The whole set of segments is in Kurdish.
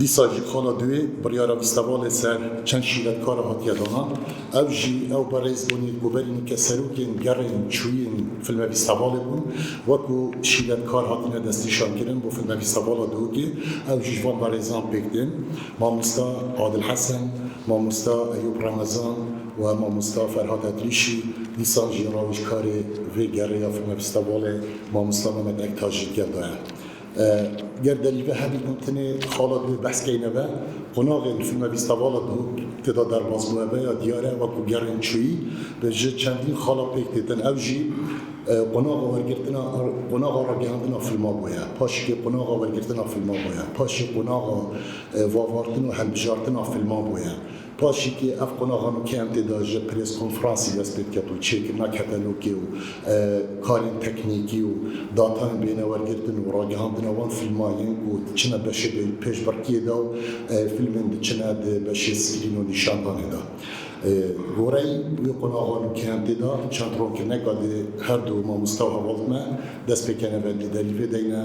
Dîsa jî xala duê biryara vîstevalê ser çend şîvetkar a hatiye dana. Ew jî ew berêz bûnî ku berî min ke serokên gerên çûyîn filmevîstevalê bûn, wekû şîvetkar hatine destnîşankirin bo filmevîstevala Dûgê. Ew jî ji van berêzan pêk tên, Mamosta Adil Hesen, Mamosta Eyûb Remezan û Mamosta Ferhat Edrîşî. Dîsan jî rawêjkarê vê gerê ya filmevîstevalê Mamosta Memed Ektaş jî gel daye. Ger derî ve herî ku tenê xala divê behs keyne ve, qonaxê li fîlma Vîstavala de tê da derbas bûye ve ya diyar e wekû gerên çûyî ve ji çendîn xala pêk têtin. Ew jî qonaxa wergirtina qonaxa ragihandina fîlma bûye, paşikê qonaxa wergirtina fîlma bûye, paşê qonaxa vavartin û hilbijartina fîlman bûye. Paşîkê ev qonaxa min kentê de ji prêskonfransê dest pê diket û çêkirina ketelokê û karên teknîkî û datayên bênewergirtin û ragihandina wan fîlman yên ku diçine beşê de yên pêşbirkiyê de û fîlmên diçine di beşê skrîn û nîşandanê de. Goreyî wê qonaxa min kentê de çend ronkirine ka dê herdu mamosta û hevaltme dest pê kene ve dî derî vê deyne.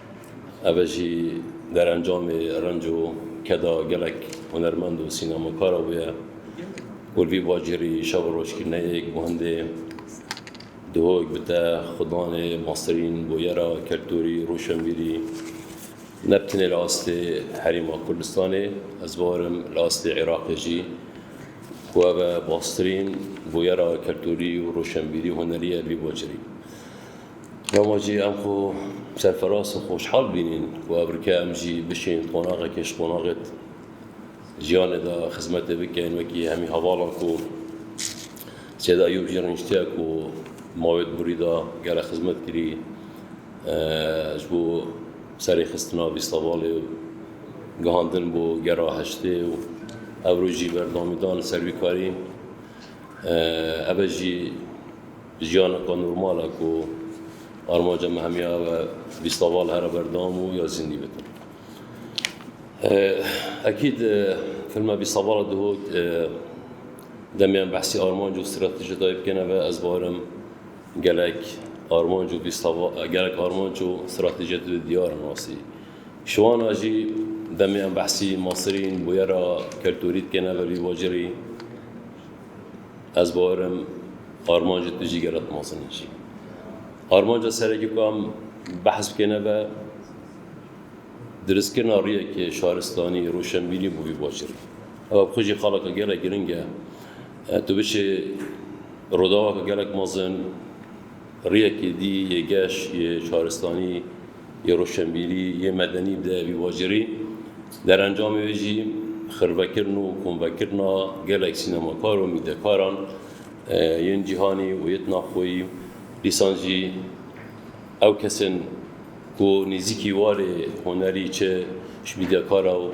Ev e jî derencamê renc û keda gelek hunermend û sînemakara wê ye ku li vî bajêrî şev û roj kirine yê ku hindê duhok bi te xwedanê masterîn bûyera keltûrî û rûşenbîrî ne bi tenê li astê Herêma Kurdistanê ez barim li astê Iraqê jî ku ev e bastrîn bûyera keltûrî û rûşenbîrî û hunerî ye li vî bajêrî. Dema jî em xwe serfiraz û xweşhal bînîn ku evrike em jî bişîn qonaxekê ji qonaxê jiyanê de xizmetê bikin wekî hemî hevalan ku Sêda Eyûb jî rûniştiye ku mavê di birî de gelek xizmet kirî ji bo serê xistina vîstavalê û gihandin bo gera heştê û ewro jî berdewamî dan li ser vî karî ebe jî Jiyaneka normal e ku armanca me hemiya ew e vîstaval here ber dam û ya zîndî bikin. Ekîd filma vîstavala dihot demê em behsî armanc û strateji dayê bikêne ve ez barim gelek armanc û vîstaval gelek armanc û stratejiyê tu de diyar in rastî. Şiwana jî demê em behsî masirîn, bûyera keltûrî dikêne ve vî bajêrî, Ez bawerim armancê tu jî gerek mezin e jî. Armanca serekî ku em behs bikê nebe diristkirina riyekê şaristanî, roşenbîrî bo vî bajêr. Ew bi xwe jî xaleke gelek giring e. Tu biçê rodaweke gelek mezin, Rêyekê dî yê geş, yê şaristanî, yê roşenbîrî, yê medenî bi devî vajirî. Derencamê wê jî xirvekirin û komvekirina gelek sînemakar û mîdekaran yên cîhanî û yê tnaxoyî. Dîsan jî ew kesên ku nêzîkî warê hunerî çi ji mîdekara û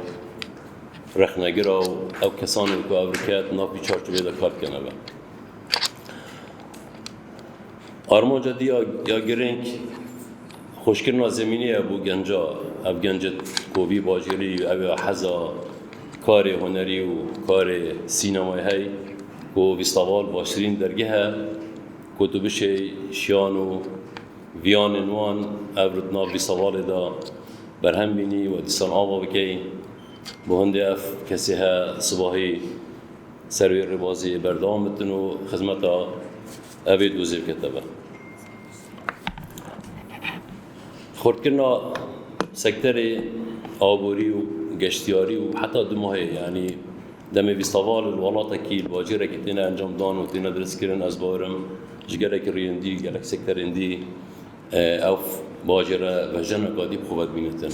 rexnegira û ew kesan in ku ev rike di nav vî çarçoveyê de kar dikene be. Armanca di ya girêng xweşkirina zemînê ye bû genca. Ev genci kovî bajêrî ew ya heza karê hunerî û karê sînemayê hey ku vîstaval baştirîn dergeh e ku tu bişê şiyan û viyanên wan ev li nav vîstavalê de berhem bînî û dîsan ava bikey. Bi hundê ev kesê he sibahî Ser vê rêbazê berdewam bitin û xizmeta evê dozê bikete ber. Xurtkirina sekterê aborî û geştyarî û heta du mahê yanî demê vîstava li welatekî li bacêrekî têne encam dan û têne dirêzkirin ez bawer im ji gelekî rûyên dî gelek sekterên dî ew bacêre vejena ka dî bi xwe ve dibînitin.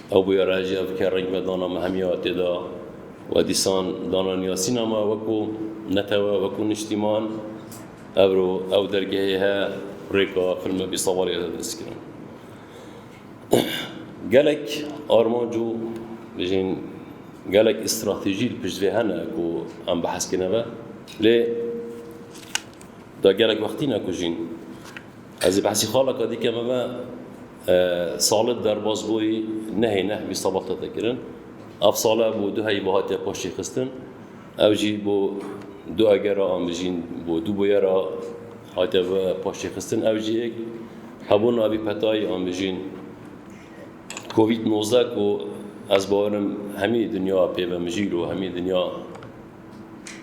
Ew bûye raciya bike reng ve dana me hemiya tê de we dîsan dana niyasîna me wekû netewe, wekû niştîman. Evro ew dergehê he rêka filme bîsawalî ye dest kirin. Gelek armanc û bijîn gelek îstratejî li pişt vê hene ku em behs kine ve lê da gelek wextî ne ku jîn Ez ê behsî xaleke dî ke me ve salib derbas bûyî nehê neh bî sabah tete kirin. Ev salib bû du heyî ve hatiye paştî xistin. Ew jî bo du eger re an bijîn bo du boye re hatiye ve paştî xistin. Ew jî êk hebûna vî petayî an bijîn covid nozdeh ku ez bawerim hemî dinya pê ve mijîl û hemî dinya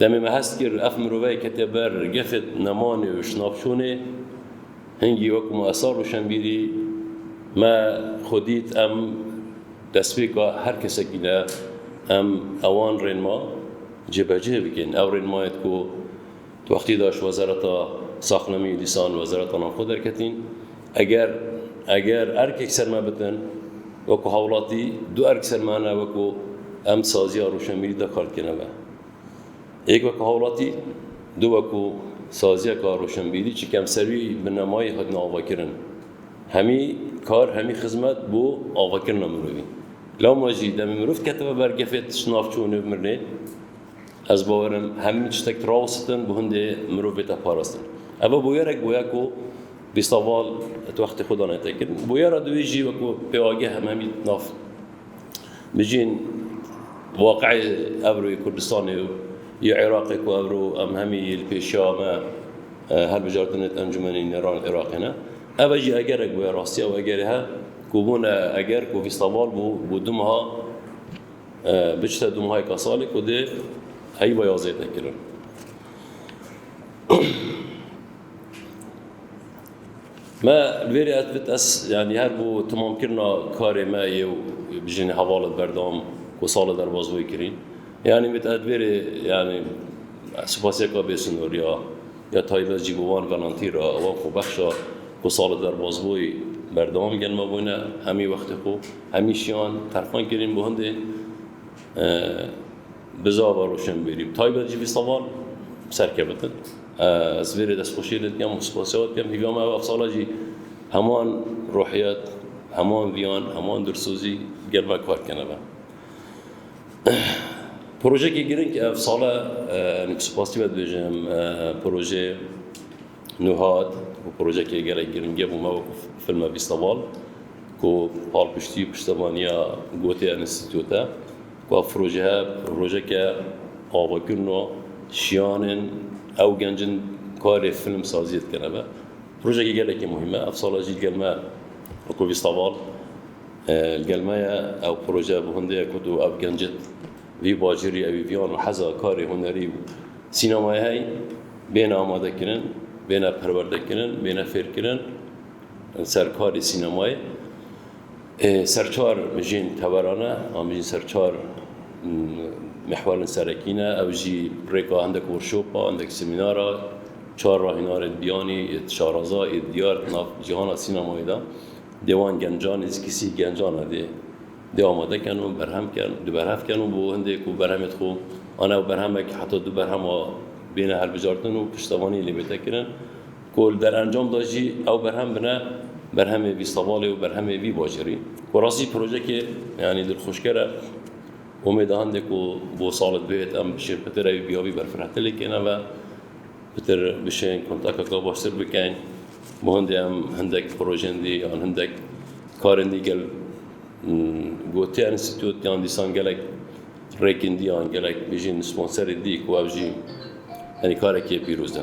Demê me hest kir ev miroveyê kete ber gefet nemanê û şinavçûnê. Hingî wek ma esar û şembîrî me xwe dît em destpêka her kesekî ne em ewan rênma cêbecê bikin. Ew rênmayên ku di wextê de ji Wezareta Saxlemiye dîsan Wezareta Navxwe derketîn, Eger eger erkek ser me bitin, wekû hawlatî du erk ser me hene wekû em saziya rûşenbîrî de kar dikene me. Yek wekû hawlatî, du wekû saziyeka rûşenbîrî çi kem ser wî bi nemayî hatine avakirin. Hemî kar hemî xizmet bo avakirina mirovî. Lewma jî demê mirov diketibe ber gefê tişt navçe û nêv mirinê, ez bawerim hemî tiştek rawistin bo hindê mirov bête parastin. Eve bûyerek bûye ku Bîstaval di wextê xwe de ne tê kirin. Boya re divê jî wek ku pêwageh em hemî nav bijîn waqeyê evro yê Kurdistanê û yê Iraqê ku evro em hemî li pêşiya me hilbijartinê di Encûmenê Nêranên Iraqê ne. Ev e jî egerek bûye, rastiya wê egerê he ku bûne eger ku Bîstaval bû bû du meha biçite du mehayê kasalê ku dê heyî be ya zêde kirin. Me verê ez bit ez yani her bu tamamkirina karê me yê û bijînê hevalet berdewam ku sala derbas wê kirî. Yani bit ez verê yani spasiyeka bêsinor ya ya taybet jî bi wan velantî ra wan xwebexşa ku sala derbas wê berdewam gelma bûne hemî wextê xwe hemî şiyan terxan kirîn bo hindê bizava roşenbîrî taybet jî vî salan serkevitin. Ez vêrê destxweşiyê li dikem û spasiya wê dikem hêviya me ew ev sala jî heman ruhiyet, heman viyan, heman dilsozî gel me kar bikene ve. Projeyekî girîng ev sal e em spasî ve dibêjim projê Nuhat û projeyekê gelek girîng e bû me wekû filme Vîsteval ku palpiştî û piştevaniya gotê enstîtû te. Ka projehe projeke avakirina jiyan in, ew genc in karê filmsaziyê dikin. Ev e projekê gelekî muhîm e. Ev sala jî li gel me Rokobî Saval li gel me ye. Ew proje bi hundê ye ku tu ev gencê vî bajêrî ewî viyan û heza karê hunerî û sînemayê heye bêne amadekirin, bêne perwerdekirin, bêne fêrkirin. Serkarê sînemayê ê ser çar mijên teveran e, an mijîn ser çar mihwarên serekî ne, ew jî rêka hindek workshopa, hindek semînara, çar rahînarên biyanî ê Şaraza ê diyar di nav cîhana sînemayê de dê wan gencan ê zikisîh gencan e dê dê amade ken û berhem ken di berhev ken û bo hindê ku berhemê di xo an ew berhemek heta du berhema bêne helbijartin û piştevanî lê bête kirin. ku li derencam de jî ew berhem bine berhemê vî sevalê û berhemê vî bajêrî. Bi rastî projeyekê yanî dilxweşker e. Umêd e hindê ku bo sala di bêyê de em bişên pitir ew bîyavî berfirehtir lê kêne ve, pitir bişên kontakeke baştir bikin. Bo hindê em hindek projeyên dî yan hindek karên dî gel gotiya înstîtût yan dîsan gelek rêkên dî yan gelek bijîn sponserên dî ku ev jî yanî karekê pîroz e.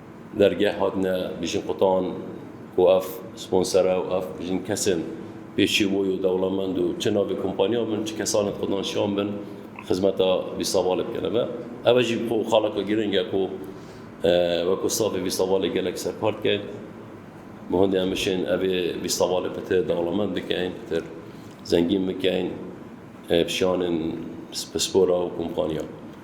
Dergeh hatine bêjin qutan ku ev sponsere û ev bêjin kesên pêşîrvoy û dewlemend û çi navê kompaniyan bin, çi kesanên qutan şan bin xizmeta Vîsavalê bikene me. Ev e jî ku xaleke girîng e ku weke stafê Vîsavalê gelek serkar dikein. Bi hundê em bişên ev ê Vîsavalê pitir dewlemend bikein, pitir zengîn bikein bi şanên pispora û kompaniyan.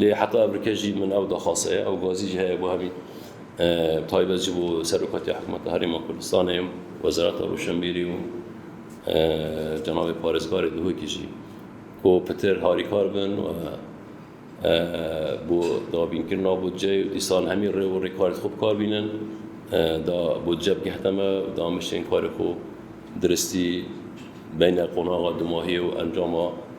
Lê heta ev rike jî min ew daxwasa ye, ew gazî jî heye bo hemî taybet ji bo Serokatiya Hikûmeta Herêma Kurdistanê û Wezareta Rûşenbîrî û cenabê Parêzgarê Duhokî jî ku pitir harîkar bin bo dabînkirina budceyê û dîsan hemî rê û rêkarên xwe bikar bînin da budce bigihte me û damişên karê xwe diristî beyne qonaxa dumahiyê û encama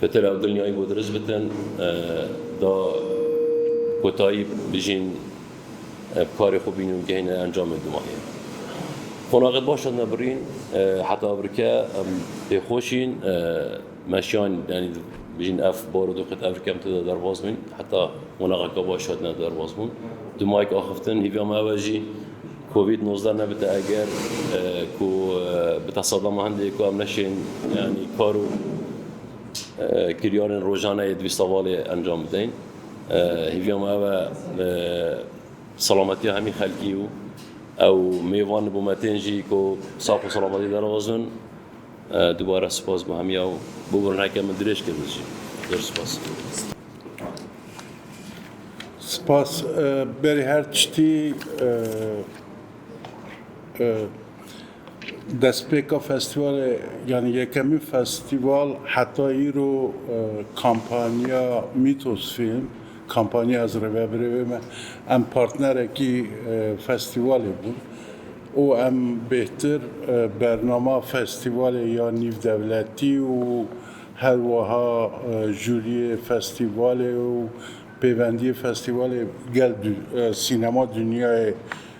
Pitir ew dinyayî bû dirist bikin, da kotayî bijîn bi karê xwe bînin û gihîne encamên dimahê. Qonaxê baş hatine birîn, heta evrike em pê xwe şîn, meşiyan yanî bijîn ev barodoxê evrike em têde derbas bûn, heta qonaxeke baş hatine derbas bûn. Dimayek axiftin, hêviya me ew e jî, Covid nozdeh nebite eger ku bi te sedema hindê ku em neşên yanî kar û kiryarên rojane yê di vî sevalê encam bideyn. Hêviya me ev e selametiya hemî xelkî û ew mêvan li bo me tên jî ku sax û selametî derxwazin. Dubare spas bo hemî ew. Bûbûrin heke min dirêj kir min jî. Zor spas. Spas berê her tiştî destpêka festîvalê yanî yekemîn festîval heta îro kampanya Mîtos Fîlm kampanya Ez Rêve Birêvê Me em partnerekî festîvalê bûn û em bêhtir bernama festîvalê ya nîvdewletî û Her wiha jûriyê festîvalê û pêvendiyê festîvalê gel sînema dinyayê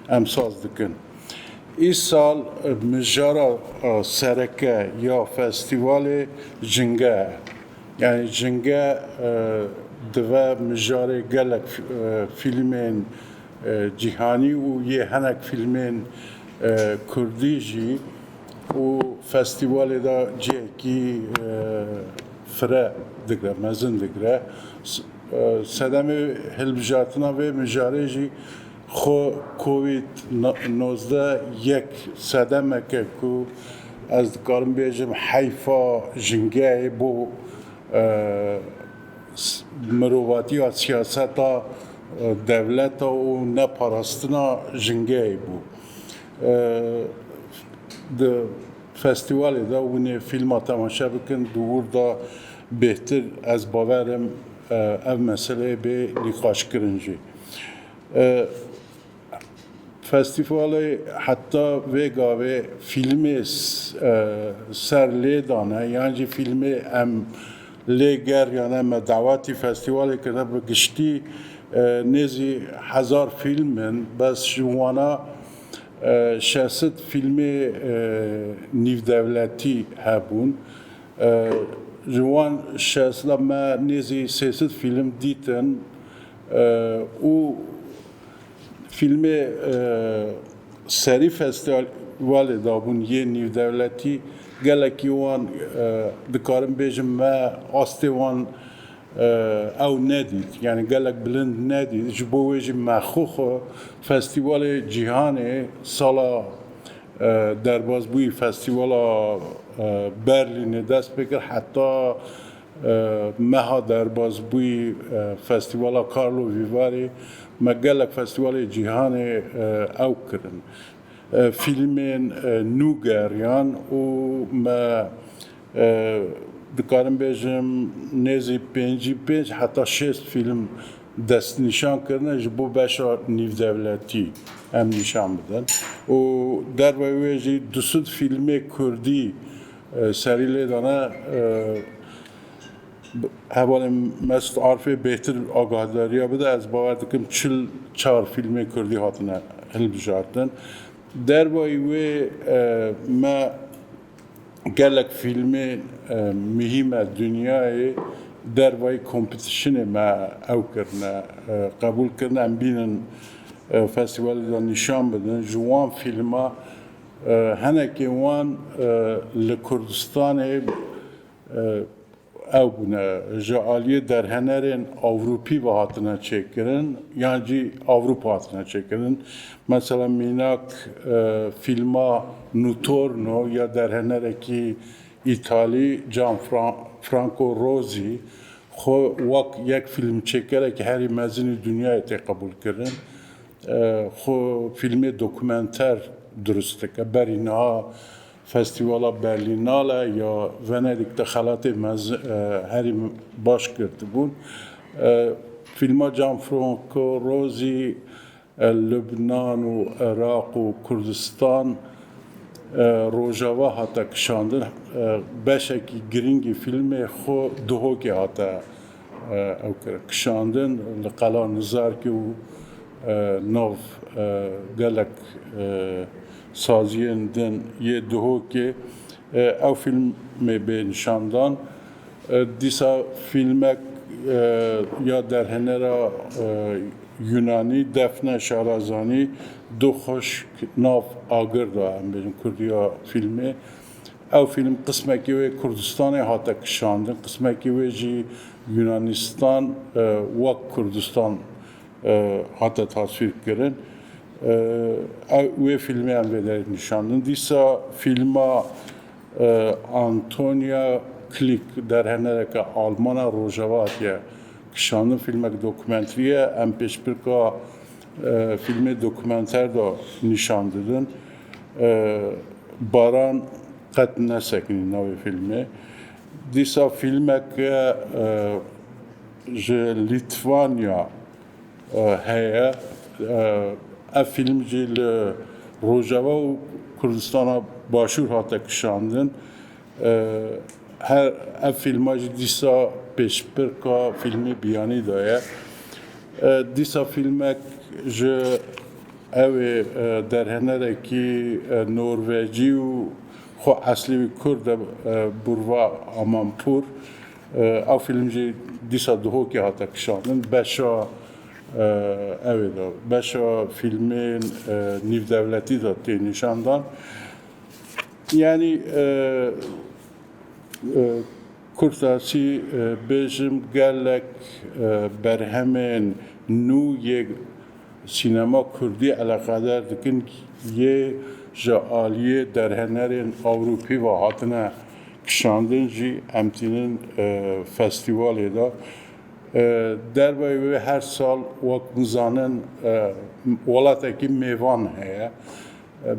em saz dikin. Îsal mijara sereke ya festîvalê jinge ye. Yanî jinge dive mijarê gelek fîlmên cîhanî û yê hinek fîlmên kurdî jî. û festîvalê de cihekî fire digre, mezin digre. Sedemê hilbijartina vê mijarê jî xwe Covid nozdeh yek sedemek e ku ez dikarim bêjim heyfa jingehê bo mirovatiya siyaseta dewleta û neparastina jingehê bû. Di festîwalê de hûnê fîlma temaşe bikin, di wir de bêhtir ez bawer im ev meseleyê bê nîqaşkirin jî. Festîwalê heta vê gavê fîlmê ser lê dane yan jî fîlmê em Lê ger yane me dawetî festîwalê kiribe bi giştî nêzî hezar fîlm in bes ji wana şesit fîlmê nîvdewletî hebûn. Ji wan şesit de me nêzî sêsit fîlm dîtin û. Fîlmê serî festîvalê dabûn yê nîvdewletî gelekî wan dikarim bêjim me astê wan ew nedît yanî gelek bilind nedît ji bo wê jî me xwe xwe festîvalê cîhanê sala derbazbûyî festîvala berlînê dest pê kir heta Meha derbas bû Festîvala Karlo Vîvarê me gelek festîvalê cîhanê ew kirin. Fîlmên nû geriyan û me dikarim bêjim nêzî pêncî pênc heta şêst fîlm destnîşan kirine ji bo beşa nîvdewletî em nîşan bidin û derve wê jî du sed fîlmê kurdî Serî lê dane hevalên Mesut Arifê bêhtir agahdarîya bide, ez bawer dikim çil çar fîlmên kurdî hatine hilbijartin. Dervayî wê me gelek fîlmên muhîme dinyayê dervayî kompetîşinê me ew kirine qebûl kirine em bînin festîvalê de nîşan bidin ji wan fîlma Hinekî wan li Kurdistanê ew bûne ji aliyê derhenerên Ewropî ve hatine çêkirin yan jî Ewropa hatine çêkirin. Mesela mînak fîlma Nutorno ya derhenerekî Îtalî Gian Franco Rosi xwe wek yek fîlmçêkerekî herî mezinî dunyayê tê qebûlkirin. xwe fîlmê dokumenter dirust dike. Berî niha Festîvala Berlînale ya Venedîk de xelatê mezin herî baş girtibûn. Fîlma Gianfranco Rosi Lubnan û Iraq û Kurdistan Rojava hate kişandin. Beşekî girîngî fîlmê xwe Duhokê hate Ew kir kişandin li Qala Nizarkê û nav gelek saziyên din yê Duhokê ew fîlmê bê nîşandan. Dîsa fîlmek ya derhênera Yûnanî Defne Şarazanî Du Xwişk Nav Agir da em bêjin kurdiya fîlmê. Ew fîlm qismekî wê Kurdistanê hate kişandin, qismekî wê jî Yunanistan wek Kurdistan hate taswîrkirin. Wê fîlmê em vê derê nîşandin. Dîsa fîlma Antonia Klick derhenereke Alman a Rojava hatiye kişandin. Fîlmek dokumenterî ye. Em pêşbirka fîlmê dokumenter de nîşan didin. Baran qet nesekinî navê fîlmê. Dîsa fîlmeke ji Lîtvanya heye. Ev fîlm jî li Rojava û Kurdistana Başûr hate kişandin. Her ev fîlma jî dîsa pêşbirka fîlmê Biyanî de ye. Dîsa fîlmek ji ew ê derhenerekî Norvecî û xwe eslî wî Kurd e Burva Amanpur. Ew fîlm jî dîsa Duhokê hate kişandin. Beşa ew ê de beşa fîlmên nîvdewletî de tê nîşandan. Yanî kurtasî bêjim gelek berhemên nû yê sînema kurdî eleqedar dikin yê ji aliyê derhenerên ewropî ve hatine kişandin jî em tînin festîwalê de. Derveyê wê her sal wek mizanin welatekî mêvan heye.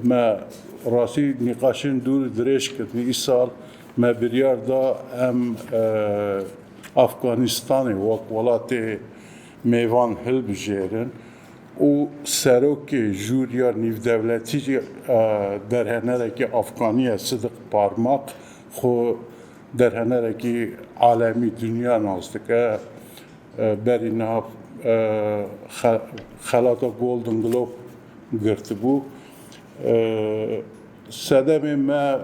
Me rastî nîqaşên dûr dirêj kirin. Îsal me biryar da em Afganistanê wek welatê mêvan hilbijêrin û Serokê Jûriya Nîvdewletî jî derhenerekî Afganî ye Sidik Parmak xwe derhenerekî alemî dinya nas dike. Berî niha xelata Golden Globe girtibû. Sedemê me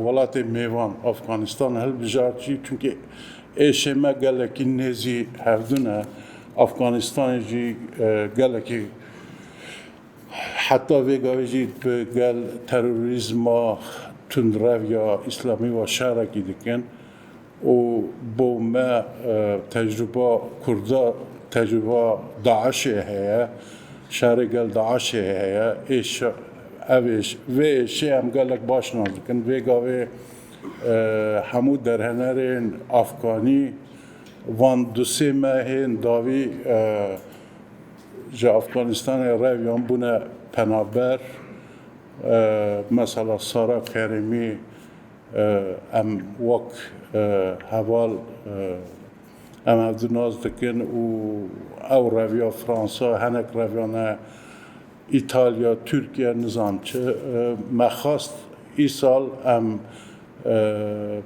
welatê mêvan Afganistan hilbijart jî çunkê êşê me gelekî nêzî hevdu ne. Afganistanê jî gelekî heta vêgavê jî bi gel terorîzma tundrev ya îslamî wa şerekî dikin. û bo me tecrûba kurda tecrûba DAIŞ'ê heye, şerê gel DAIŞ'ê heye, ev ê vê êşê em gelek baş nas dikin, vê gavê hemû derhenerên afganî van du sê mehên dawî ji Afganistanê reviyan bûne penaber, mesela Sara Kerîmî Em wek heval em hev di nas dikin û ew reviya Fransa, hinek reviya ne Îtalya, Tirkiye nizam çi. Me xwest îsal em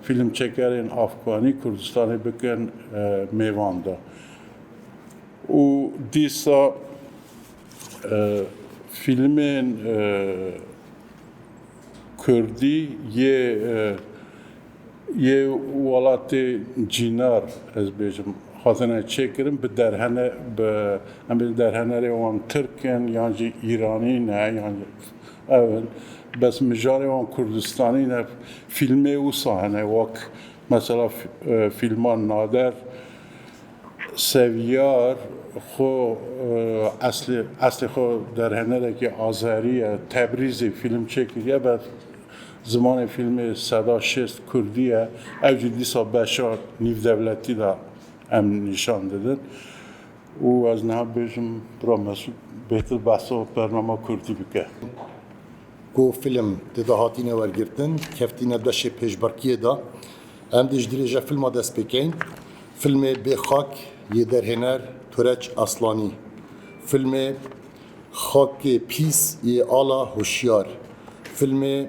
fîlmçekerên Afganî Kurdistanê bikin mêvan de û dîsa fîlmên Kurdî yê yê welatê cînar ez bêjim hatine çêkirin bi derhene bi em bêjin derhenerê wan tirk in yan jî îranî ne yan ew in bes mijarê wan kurdistanî ne. Fîlmê wisa hene wek mesela fîlma nader. Seviyar xwe eslê xwe derhenerekî Azerî ye, Tebrîzê fîlm çêkiriye be zimanê fîlmê Seda Şêst Kurdî ye, ew jî dîsa beşa nîvdewletî de em nîşan didin û ez niha bêjim bira Mesûd bêtir behsa bernama Kurdî bike. Ku fîlm dida hatîne wergirtin, keftîne beşê pêşberkiyê de. Em dê ji dirêja filma dest pê kein. Filmê Bê Xak yê derhêner Tureç Aslanî. Filmê Xakê Pîs yê Ala Hoşyar. Filmê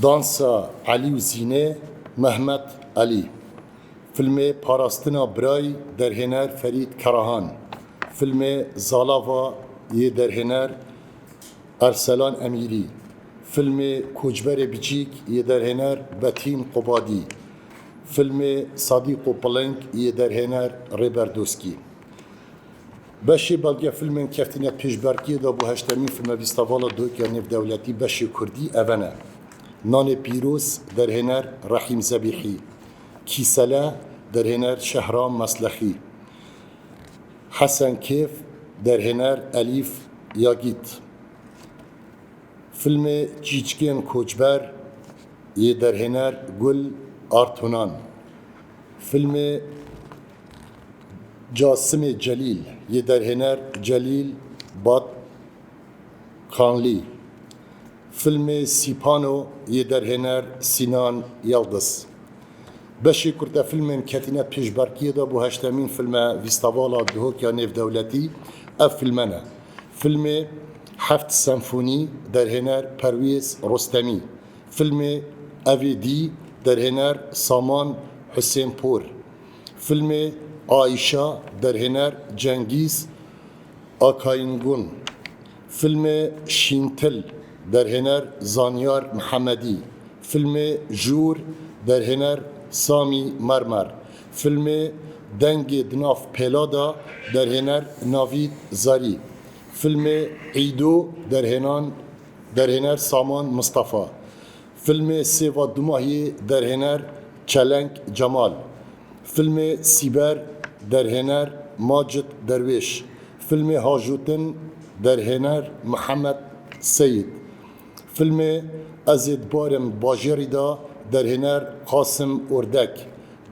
Dansa Elî û Zînê Mehmet Elî. Filmê Parastina Birayî derhêner Ferîd Karahan. Filmê Zalava yê derhêner Erselan Emîrî, Filmê Koçberê Biçîk yê derhêner Betîn Qobadî, Filmê Sadîq û Piling yê derhêner Rêber Doskî. Beşê belge filmên keftine pêşberkiyê de bo heştemîn Filmevîstavala Doyka Nêvdewletî beşê Kurdî eve ne, Nanê Pîroz derhêner Rehîm Zebîhî, Kîsele derhêner Şehram Meslexî, Hesen Kêf, derhêner Elîf Yagît Filmê Çîçikên Koçber yê derhêner Gul Artunan Filmê Casimê Celîl yê derhêner Celîl Batkanlî Filmê Sîpano yê derhêner Sînan Yildiz. Beşê kurtefilmên ketîne pêşberkiyê de bo heştemîn filme Vîstavala Dihokiya Nêvdewletî, ev filme ne. Filmê Heft Senfonî, derhêner Perwêz Rostemî. Filmê Evê Dî, derhêner Saman Husênpor. Filmê Aîşa, derhêner Cengîz Akayngun. Filmê Şîntil, derhêner Zanyar Mihemedî, filmê Jûr, derhêner Samî Mermer, filmê Dengê di nav pêla de, derhêner Navîd Zerî, filmê Îdo, derhênan derhêner Saman Mistefa, Filmê Sêva Dumahiyê derhêner Çelenk Cemal, filmê Sîber derhêner Macit Derwêş, filmê Hajotin derhêner Mihemed Seyîd, filmê Ez ê dibarim bajêrî de derhêner Qasim Ordek,